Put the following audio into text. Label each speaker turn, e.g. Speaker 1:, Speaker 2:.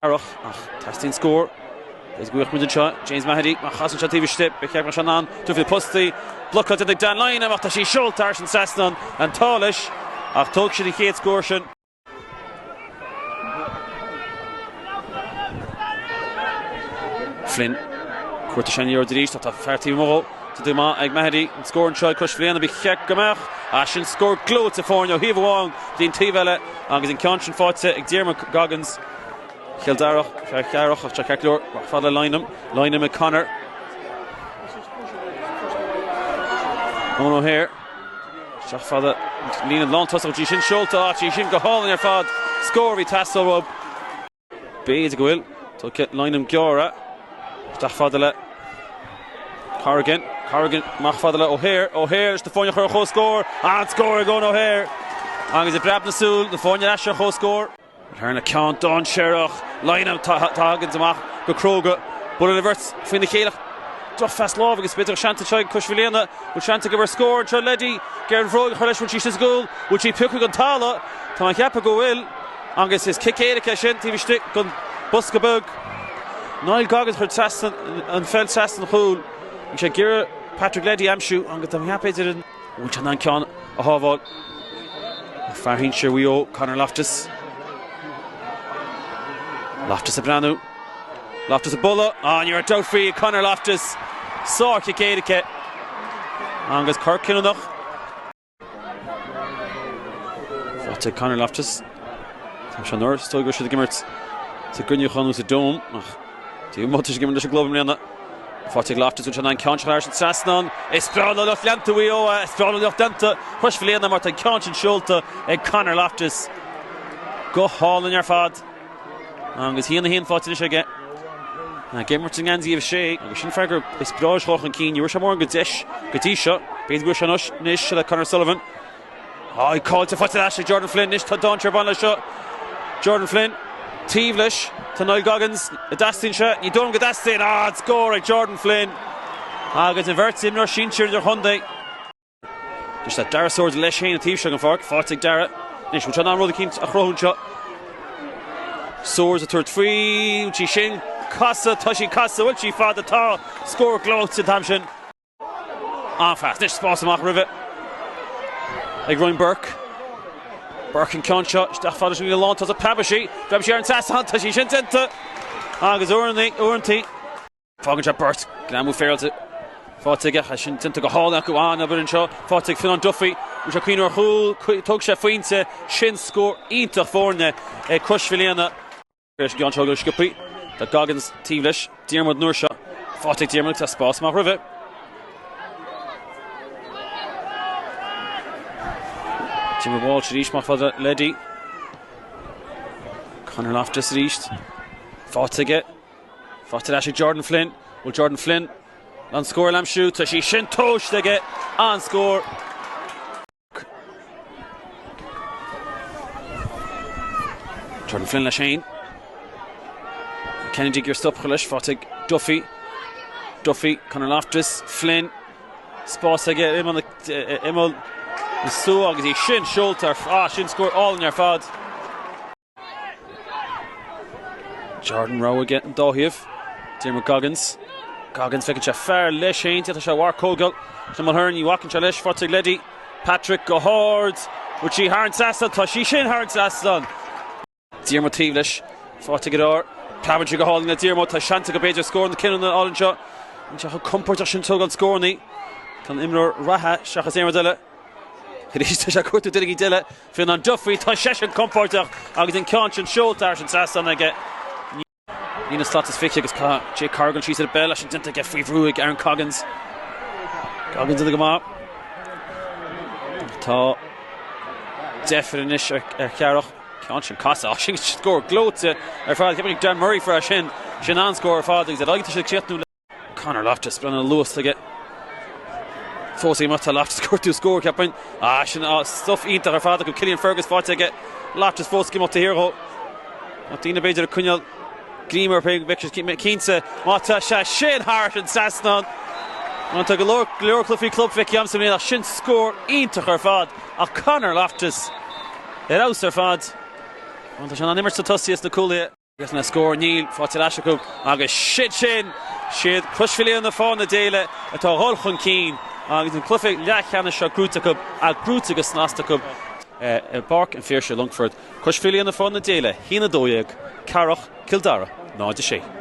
Speaker 1: Earrach, ach teastaíonn scór. Is buíoch muid anseo, James Maheady, má chasann sé taobh istigh. Ba cheart go mbeadh sé in ann tabhairt faoi na postaí. Blocáilte ag Dan Lynam, ach tá sí seolta thar an trasnán. An t-ádh leis, ach tógfaidh siad an chéad scór sin. Flynn, cuarta sean-fhíor arís, ach tá fear taobh amuigh dhó. Déanta go maith ag Maheady. An scór anseo ag Crois Mhaoilíona, ba cheart go mbeadh. Ach sin scór gleoite foirne ó thaobh amháin go dtí an taobh eile agus an ceann sin faighte ag Diarmuid Coggins. Chill Dara, fear Chiarrach ach tá ceart go leor amach fada le Lynam. Lynam ag Connor. Eoin O'Haire, isteach fada, líne lántosach go dtí sin, seolta aige, í sin go hálainn ar fad. Scór a bhí ag teastáil uathu. B'fhéidir go bhfuil. Tugtha Lynam ag gearradh isteach fada le Corrigan. Corrigan amach fada le O'Haire. O'Haire leis na foirne a chur ar comhscór. An-scór ag Eoin O'Haire agus i bpreab na súl na foirne ar ais ar chomhscór. An tharla ceann dainséarach. Lynam a thagann amach go cróga. Buaileann an bheirt faoina chéile. Drochphas láimhe agus b'fhéidir gur seans anseo ag Crois Mhaoilíona. Bhfuil seans i gcomhair scór anseo Leddy. Ag iarraidh an bhróg a chur leis. Bhfuil sí istigh sa gcúl. Bhfuil sí pioctha den talamh. Tá mé ag ceapadh go bhfuil. Agus is cic éirice é sin taobh istigh den bhosca beag. Niall Coggins chuir trasna an pheil trasna an chúil. Bhí sé ag iarraidh Patrick Leddy a aimsiú agus tá mé ag ceapadh idir an. Bhfuil sé in ann an ceann a shábháil? Fear sinsir Mhaigh Eo, Conor Loftus. Loftus ag breathnú. Loftus ag bualadh. Á, ní raibh dabht faoi ag Conor Loftus. Sárchic éirice agus cor cinniúnach. Faighte ag Conor Loftus. Tráth seo anuraidh is dóigh go raibh siad ag imirt sa gcruinneachán nó sa Dome ach dé an mholta is ag imirt leis an gclub i mbliana. Faighte ag Loftus, bhfuil sé in ann an ceann seo a chur thar an trasnán. Is breá le lucht leanta Mhaigh Eo é, is breá le lucht leanta Chrois Mhaoilíona mar tá an ceann sin seolta ag Conor Loftus go hálainn ar fad. Agus a haon a haon faighte anois aige ag imirt i ngeansaí a 6 agus sin fear agus is breá leis a theacht chun cinn. Ní bhfuair sé mórán de dheis go dtí seo. B'fhéidir go bhfuil sé anois le Conor Sullivan. Á, í caillte, faighte ar ais ag Jordan Flynn anois. Tá dainséar ag baint leis seo. Jordan Flynn taobh leis. Tá Niall Coggins, an dteastaíonn sé. Ní dóigh liom go dteastaíonn. Á! Scór ag Jordan Flynn agus an bheirt imreoir sinsir idirchontae. Is le Darragh Swords leis féin ar an taobh seo den pháirc, faighte ag Darragh. Anois, bhfuil sé in ann rud eicínt a chruthú anseo? Swords ag tabhairt faoi, bhfuil sí sin ag casadh? Tá sí ag casadh, bhfuil sí fada, tá! Scór gleoite an t-am sin. An-phas, anois spás amach roimhe ag Ryan Burke. Burke an ceann seo isteach fada sa líne lántosaigh, preabfaidh sí, preabfaidh sí thar an trasnán, tá sí sin déanta! Agus uaireannaí, uaireantaí. Fágann sé beirt greamú féilte faighte aige, tá sin déanta go hálainn acu an-obair anseo faighte ag Fionán Duffy. Bhí sé ag cuimhneamh ar chúl, thóg sé a phointe, sin scór iontach foirne ag Crois Mhaoilíona. Tar éis an gceann seo go sciobtha do Coggins taobh leis, Diarmuid an uair seo, faighte ag Diarmuid agus tá spás amach roimhe. Diarmuid Walsh arís amach fhad le Leddy. Conor Loftus arís faighte aige. Faighte ar ais ag Jordan Flynn. Bhfuil Jordan Flynn in ann scór a aimsiú. Tá sé sin tomhaiste aige an-scór. Jordan Flynn leis féin. Kennedy ag iarraidh stop a chur leis. Faighte ag Duffy. Duffy, Conor Loftus, Flynn. Spás aige ar imeall na súl agus é sin seolta ar fad. Sin scór álainn ar fad. Jordan rogha aige ar an dá thaobh. Diarmuid Coggins. Coggins feiceann sé fear leis féin, d'fhéadfadh sé a thabhairt chuig Kevin Mulhern, ní bhacann sé leis, faighte ag Leddy. Patrick go hard. Bhfuil sí thar an trasnán? Tá sí sin thar an trasnán. Diarmuid taobh leis, faighte aige. Preabann sí go hálainn le Diarmuid. Tá seans aige b'fhéidir scór na cinniúna a fháil anseo. Níl sé chomh compordach sin ag tógáil scóranna. Tá an imreoir reatha, seachas aon rud eile. Arís tá sé ag cuartú duine éicint eile. Fionán Duffy, Tá seisean compordach agus an ceann sin seolta thar an trasnán aige. Líne slat is fiche agus caith Jake Corrigan síos ar Bell as sin déanta aige faoi bhrú ag Aaron Coggins. Coggins ag déanamh go maith. Tá deifir anois ar Chearrach. Ceann sin casta, á sin scór gleoite ar fad. Ceapaim gurb é Dan Murray a fuair é sin. Sin an-scór ar fad agus ar aghaidh tá siad ag críochnú le. Conor Loftus, breathnaigh an luas atá aige fós ag imeacht atá Loftus ag cuartú scór cheapfainn. Ah sin stuif iontach ar fad acu Cillian Fergus faighte aige Loftus fós ag imeacht taobh thiar dhó ach daoine b'fhéidir ag coinneáil greim air féin go mbeadh sé cinnte má tá sé sin thar an trasnán Má tá go leor go leor cluichí club feicthe agamsa i mbliana ach sin scór iontach ar fad ach Conor Loftus ar fheabhas ar fad Má tá sé in ann imirt sna tosaithe is na cúlaithe. Agus na scóir níl faighte ar ais acu agus siad sin siad Crois Mhaoilíona Fánaithe na Daoile atá ag dul chun cinn agus an cluiche leathcheannais seo gnóite acu, gnóite go snasta acu i bPáirc an Phiarsaigh, Longfort. Crois Mhaoilíona Fánaithe na Daoile, a hAon, 12, Cearrach, Cill Dara, 0, 6.